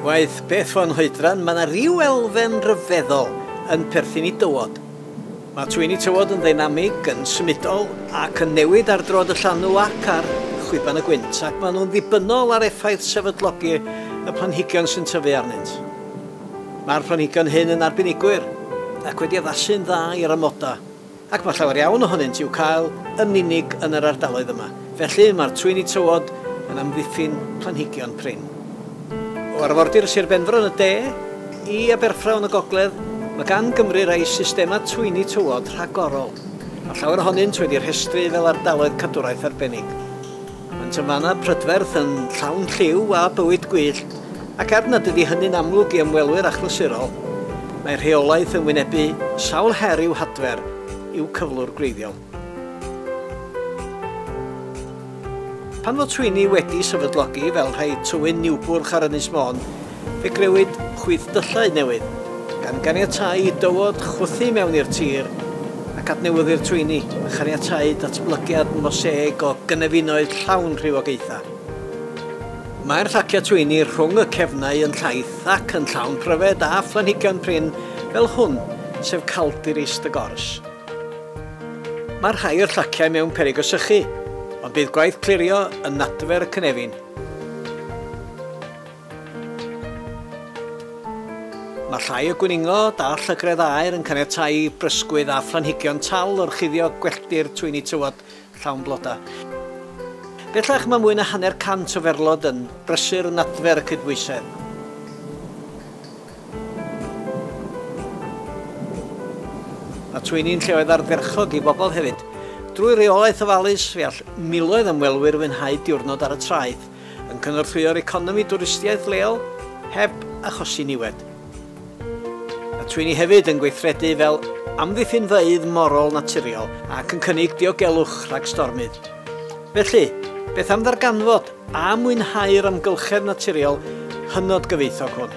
Waeth beth fo'n hoedran, mae yna ryw elfen ryfeddol yn perthyn i dywod. Mae twyni tywod yn ddeinamig, yn symudol ac yn newid ar droad y llanw ac ar chwiban y gwynt, ac maen nhw'n ddibynnol ar effaith sefydlogi y planhigion sy'n tyfu arnynt. Mae'r planhigion hyn yn arbenigwyr ac wedi addasu'n dda i'r amodau, ac mae llawer iawn ohonynt i'w cael yn unig yn yr ardaloedd yma, felly mae'r twyni tywod yn amddiffyn planhigion prin. O arfordir Sir Benfro yn y de i Aberffraw yn y gogledd, mae gan Gymru rai systemau twyni tywod rhagorol. Mae llawer ohonynt wedi rhestru fel ardaloedd cadwraeth arbennig. Ond tra mae yna prydferth yn llawn lliw a bywyd gwyllt, ac er nad ydi hynny'n amlwg i ymwelwyr achlysurol, mae rheolaeth yn wynebu sawl her i'w hadfer i'w cyflwr gwreiddiol. Pan fo Twini wedi sefydlogi fel rhai Tywyn Niwbwrch ar Ynys Môn, Fe grëwyd chwith dyllau newydd, gan ganiatáu i dywod chwythu mewn i'r tir ac adnewyddu'r twyni, a chaniatáu datblygiad moseg o gynefinoedd llawn rhywogaethau. Mae'r llaciau twyni rhwng y cefnau yn llaith ac yn llawn pryfed a phlanhigion prin fel hwn, sef Caldiris de Gors. Mae rhai o'r llaciau mewn peryg o sychu, ond bydd gwaith clirio yn adfer y cynefin. Mae llai o gwningod a llygredd aer yn caniatáu i brysgwydd a phlanhigion tal orchuddio gwelltir twyni tywod llawn blodau. Bellach mae mwy na hanner cant o ferlod yn brysur yn adfer y cydbwysedd. Mae twyni'n lleoedd ardderchog i bobl hefyd. Drwy reolaeth ofalus, fe all miloedd ymwelwyr fwynhau diwrnod ar y traeth, yn cynorthwyo'r economi dwristiaeth leol heb achosi niwed. Mae Twyni hefyd yn gweithredu fel amddiffynfeydd morol naturiol ac yn cynnig diogelwch rhag stormydd. Felly, beth am ddarganfod a mwynhau'r amgylchedd naturiol hynod gyfoethog hwn?